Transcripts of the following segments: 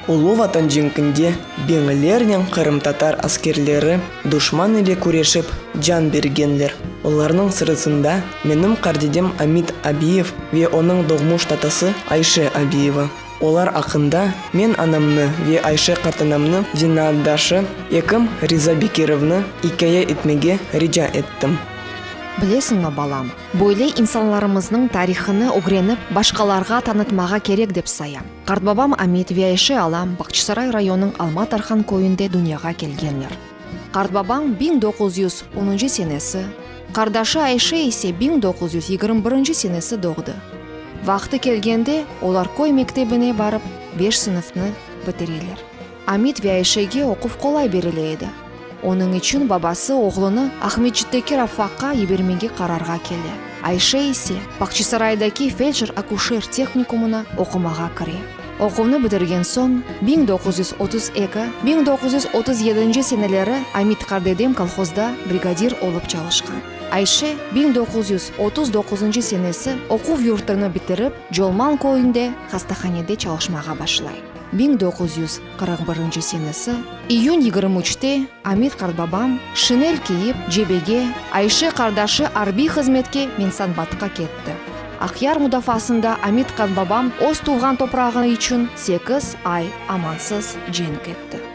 Ulu Vatan cenkinde biñlernen qırımtatar askerleri duşman ile küreşip can bergenler. Olarnıñ sırasında menim qardedem Amit Abiyev ve onıñ doğmuş tatası Ayşe Abiyeva. Olar aqqında men anamnı ve Ayşe qartanamnı zenaatdaşı ekim Riza Bekirovnı ikâye etmege rica ettim. Bilesiñmi, balam, Böyle insanlarımıznıñ tarihını ögrenip, başqalarğa tanıtmağa kerek dep sayam. Qartbabam Amit ve Ayşe alam Bağçasaray rayonınıñ Alma Tarhan köyünde dünyağa kelgenler. Qartbabam biñ doquz yüz onuncu senesi, qardaşı Ayşe ise biñ doquz yüz yigirmi birinci senesi doğdı. Vaqtı kelgende, olar köy mektebine barıp, beş sınıfnı bitireler. Amid ve Ayşege oquv qolay berile edi. Onıñ içün babası oğlunı Aqmescitteki Rafaqqa yibermege qararğa kele, Ayşe ise Bağçasaraydaki feldşer-akuşer tehnikumına oqumağa kire. Oquvnı bitirgen soñ, biñ doquz yüz otuz eki, biñ doquz yüz otuz yedinci seneleri Amid qardedem kolhozda brigadir olıp çalışqan. Ayşe biñ doquz yüz otuz doquzıncı senesi oquv yurtını bitirip, Colman köyünde hastahanede çalışmağa başlay. Biñ doquz yüz qırq birinci senesi iyün yigirmi üçte Amid qartbabam, şinel kiyip, cebege, Ayşe qardaşı arbiy hızmetke Mensanbatqa ketti. Aqyar mudafaasında Amid qartbabam öz tuvğan toprağı içün sekiz ay amansız cenk etti.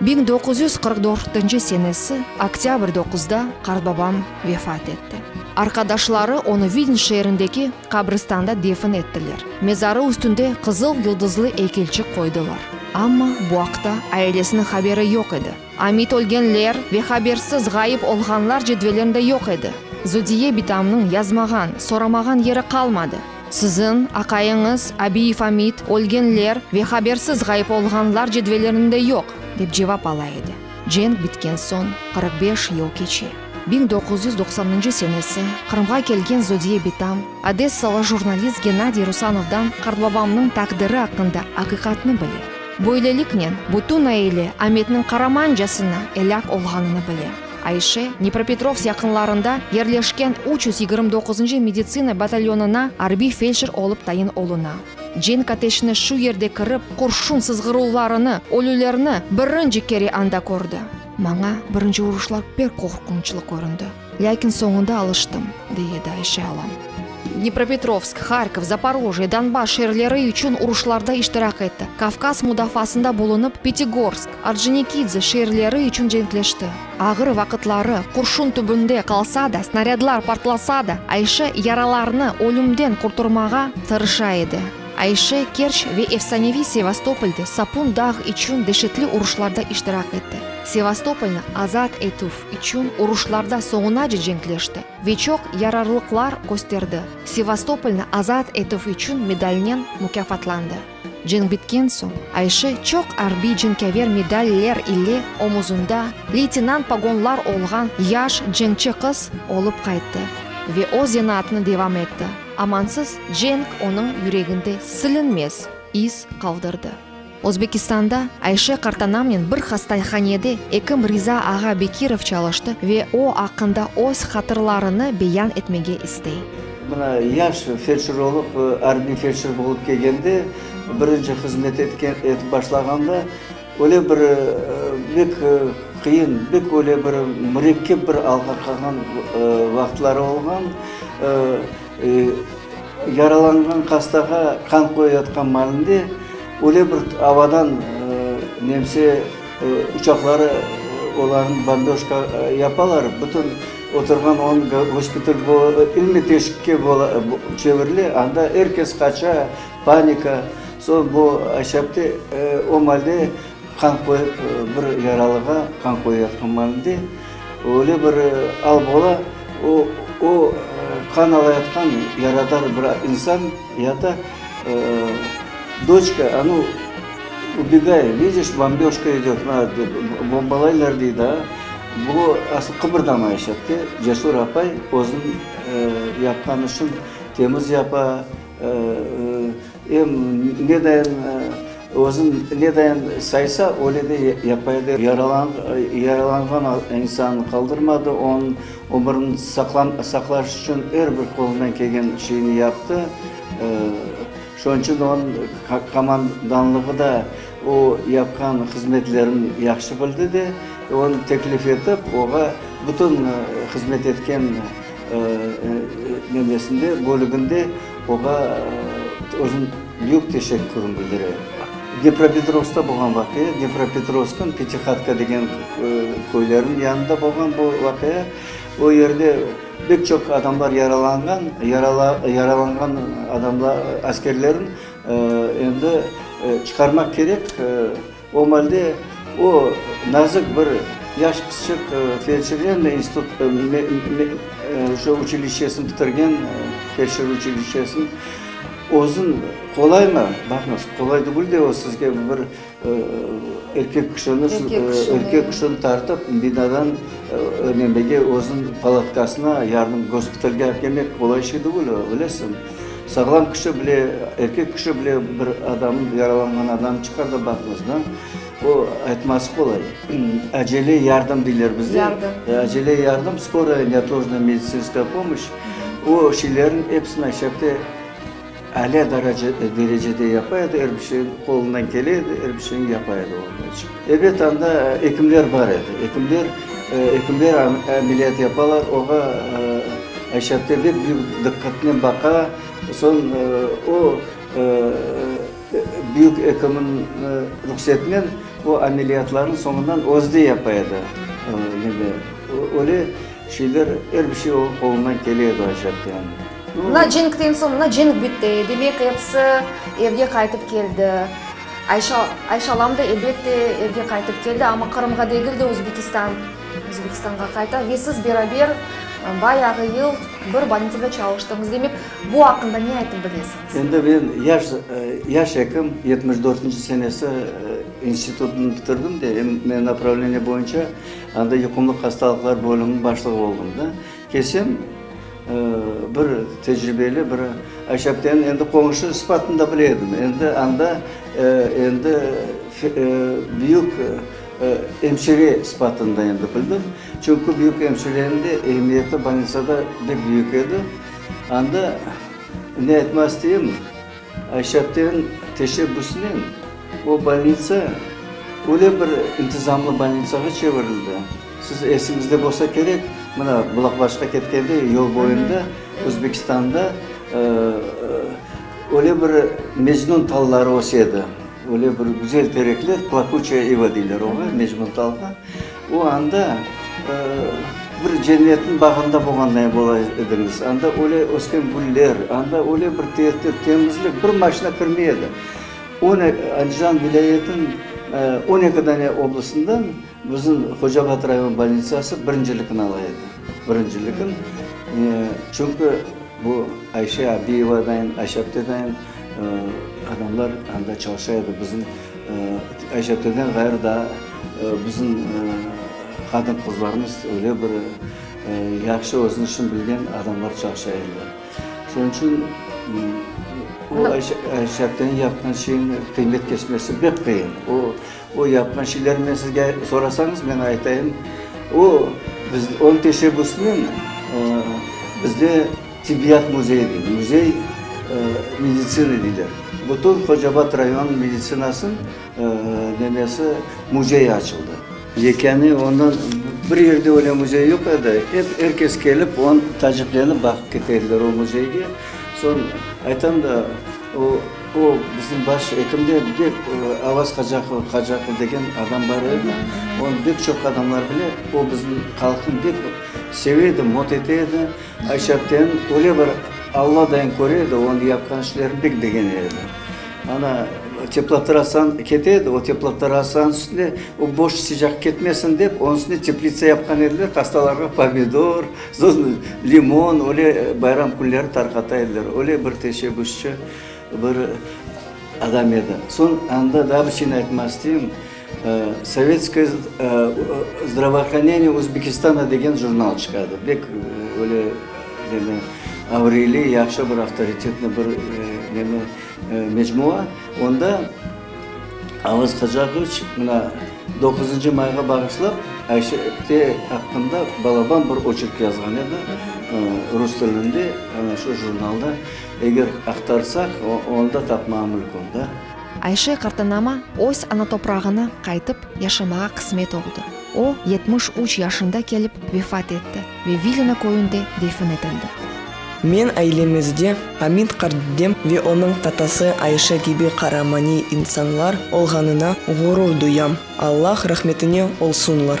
Biñ doquz yüz qırq dörtnci senesi oktâbr doquzda qartbabam vefat etti. Arqadaşları onı Vidin şeerindeki qabristanda defin ettiler. Mezarı üstünde qızıl yuldızlı eykelçik qoydılar. Amma bu aqta ailesiniñ haberi yoq edi. Amit ölgenler ve habersiz ğayıp olğanlar cedvelinde yoq edi. Zudiye bitamnıñ yazmağan, soramağan yeri qalmadı. Siziñ, aqayıñız, Abiyev Amit, ölgenler ve habersiz ğayıp olğanlar cedvellerinde yoq, dep cevap ala edi. Cenk bitken soñ qırq beş yıl keçe. Biñ doquz yüz doqsannıncı senesi Qırımğa kelgen Zodiye Bitam, odessalı jurnalist Gennadiy Rusanovdan qartbabamnıñ taqdiri aqqında aqiqatnı bile. Böyleliknen, bütün aile Ametniñ qaramancasına elâk olğanını bile. Ayşe, Dnepropetrovsk yaqınlarında yerleşken üç yüz yigirmi doquzuncı meditsina batalyonına arbiy feldşer olıp tayin oluna. Cenk ateşine şu yerde kirip, qurşun sızğıruvlarını, ölülerni birinci kere anda kördi. Maña birinci uruşlar pek qorqunçlı köründi, lâkin soñunda alıştım, dey edi Ayşe alam. Dnepropetrovsk, Harkov, Zaporojye, Donbass şeerleri içün uruşlarda iştirak etti, Kavkaz mudafaasında bulunıp, Pitigorsk, Orconikidze şeerleri içün cenkleşti. Ağır vaqıtları, qurşun tübünde qalsa da, snarâdlar partlasa da, Ayşe yaralarını ölümden qurturmağa tırışa edi. Ayşe Kerç ve efsaneviy Sevastopolde Sapun dağ içün deşetli uruşlarda iştirak etti, Sevastopolnı azat etüv içün uruşlarda soñunace cenkleşti ve çoq yararlıqlar kösterdi, Sevastopolnı azat etüv içün medalnen mukâfatlandı. Cenk bitken soñ, Ayşe çoq arbiy cenkâver medaller ile omuzında leytenant pogonlar olğan yaş cenkçi qız olıp qayttı ve öz zenaatını devam etti. Amansız cenk onıñ yüreginde silinmez iz qaldırdı. Özbekistanda Ayşe qartanamnen bir hastayhanede ekim Riza ağa Bekirov çalıştı ve o aqqında öz hatırlarını beyan etmege istey. Mına yaş felçer olıp, arbiy felçer bolıp kelgende, birinci hızmet etip başlağanda, öyle bir bek qıyın, bek öyle bir mürekkep bir alğa qalğan vaqıtları olğan. Yaralanğan hastağa qan qoyayatqan malinde, öyle bir avadan nemse uçaqları olarnı bombežka yapalar, bütün Oturğan on gospital bu ilmiy teşikke çevirile, anda er kes qaça, panika. Soñ bu aşapte o malde qan qoyıp, bir yaralığa qan qoyayatqan malinde öyle bir al bola, o qan alayatqan yaradar bir insan ya da doçka, a nu, ubegay, vidiş, bomböjka idöt, bombalaylar, dey daa. Bu asıl qıpırdamayış etti. Cesur apay özün yapqan işin temiz yapa, em nedayin özün nedayin saysa, öyle de yapa edi. Yaralanğan insannı qaldırmadı, onıñ ömürini saqlaş içün er bir qolundan kelgen şeyni yaptı. Şunıñ içün onıñ komandanlığı da. O, yapqan hızmetlerin yahşı bildi de, onı teklif etip, oğa bütün hızmet etken nemesinde, bölüginde oğa özüniñ büyük teşekkürin bildire. Depropetrovskta bolğan vaqia, Depropetrovsknıñ Petihatka degen köyleriniñ yanında bolğan bu vaqia. O yerde pek çoq adamlar yaralanğan, yaralanğan adamlar, askerlerniñ Endi çıqarmaq kerek. O malde o nazık bir yaş qızçıq felşirlerniñ institutını, şu uçilişçesini bitirgen, felşir uçilişçesini özün qolaymı? Baqıñız, qolay degil de o sizge bir. Erkek kişini tartıp, binadan nemege, özüniñ palatkasına, yardım gospitalge akemek qolay şey degil, bilesiñ. Sağlam kişi bile, erkek kişi bile bir adamnı, yaralanğan adamnı çıqarda baqmaz, da. O, aytması qolay. Acele yardım deyler bizde. Acele yardım, skoraye, neotložnaya medisinskaya pomoş, o şeylerniñ episini aşağıda. Alâ derecede yapa edi, er bir şey qolundan kele edi, er bir şeyni yapa edi onıñ içün. Ebet, anda ekimler bar edi, ekimler, ekimler ameliyat yapalar, oğa Ayşe apte bek büyük diqqatnen baqa, soñ o, büyük ekimniñ ruhsetinen o ameliyatlarnı soñundan özü de yapa edi. Öyle şeyler, er bir şey oñuñ qolundan kele edi Ayşe aptenin. Mına cenkten soñ, mına cenk bitti, demek, episi evge qaytıp keldi. Ayşe, Ayşe alam da, elbette, evge qaytıp keldi, amma Qırımğa degil de, Özbekistan, Özbekistanğa qayta ve siz beraber bayağı yıl bir bolnitsada çalıştınız. Demek, bu aqqında ne aytıp bilesiñiz? Endi men yaş, yaş ekim, yetmiş dörtünci senesi institutnı bitirdim de, em, men napravleniye boyunca anda yuqumlı hastalıqlar bölüminiñ başlığı oldım da. Kesen bir tecribeli, bir aşapten endi qoñşu sıfatında bile edim. Endi anda endi büyük emşire sıfatında endi bildim. Çünki büyük emşirenin de ehemmiyeti, bolnitsada, bek büyük edi. Anda ne aytmaz isteyim. Ayşapten teşebbüsinen o bolnitsa öyle bir intizamlı bolnitsağa çevirildi, siz esiñizde bolsa kerek, mına, Bulaqbaşqa ketkende yol boyunda Özbekistanda öyle bir mecnun talları ösedi, öyle bir güzel terekler, plakuçe iva deyler oña, mecnun talğa. O anda bir cennetniñ bağında bolğanday ola ediñiz. Anda öyle ösken güller, anda öyle bir tertip, temizlik, bir maşina kirmey edi. Andijan vilâyetiniñ on eki dane oblastından bizim Hocabat rayon bolnitsası birincilikni ala edi. Birincilikni. Çünki bu Ayşe Abiyevadan, Ayşe Abdedayın. Adamlar anda çalışa edi, bizim Ayşetelden ğayrı daa bizim qadın-qızlarımız öyle bir yahşı özüniñ işini bilgen adamlar çalışa ediler. Şunıñ içün o Ayşetelniñ yapqan şeyini qıymet keçmesi pek qıyın. O, o yapqan şeylerini men sizge sorasañız, men aytayım, o, biz, onıñ teşebbüsinen bizde, Tibbiyat müzeyi de, müzey meditsina deyler. Bütün Hocabat rayonınıñ meditsinasınıñ nemesi, müzeyi açıldı. Yekâne ondan bir yerde öyle müzey yoq edi, hep er kes kelip, on taciplenip baqıp kete ediler o müzeyge. Soñ aytam da, o, o bizim baş ekim de bek Avaz Qacaqov, Qacaqov degen adam bar edi, onı bek çoq adamlar bile, o bizim halqnı bek seve edi, mot ete edi. Aşağıdan öyle bir Alla dayın köre edi, onıñ yapqan işlerini pek begene edi. Ana, teplotrasan kete edi, o teplotrasanıñ üstüne o boş sıcaq ketmesin dep, onıñ üstüne teplitsa yapqan ediler, hastalarğa pomidor, soñra limon, öyle bayram künleri tarqata ediler. Öyle bir teşebbüsçi bir adam edi. Soñ anda daa bir şeyni aytmaq isteyim. Sovetskoye zdravoohraneniye Özbekistana degen jurnal çıqadı. Bek böyle neni, avriyli, yahşı bir avtoritetniy bir neni, mecmua. Onda Avaz Hacağıviç mına doquzıncı mayğa bağışlap Ayşe-te aqqında balaban bir oçerk yazğan edi, rus tilinde, ana şu jurnalda, eger aqtarsaq, onda tapmağa mülkün da. Ayşe qartanama öz ana toprağına qaytıp yaşamağa qısmet oldı. O, yetmiş üç yaşında kelip vefat etti ve Vilina köyünde defin etildi. Men ailemizde Amid qartdedem ve onıñ tatası Ayşe kibi qaramaniy insanlar olğanına ğurur duyam. Allah rahmetine olsunlar.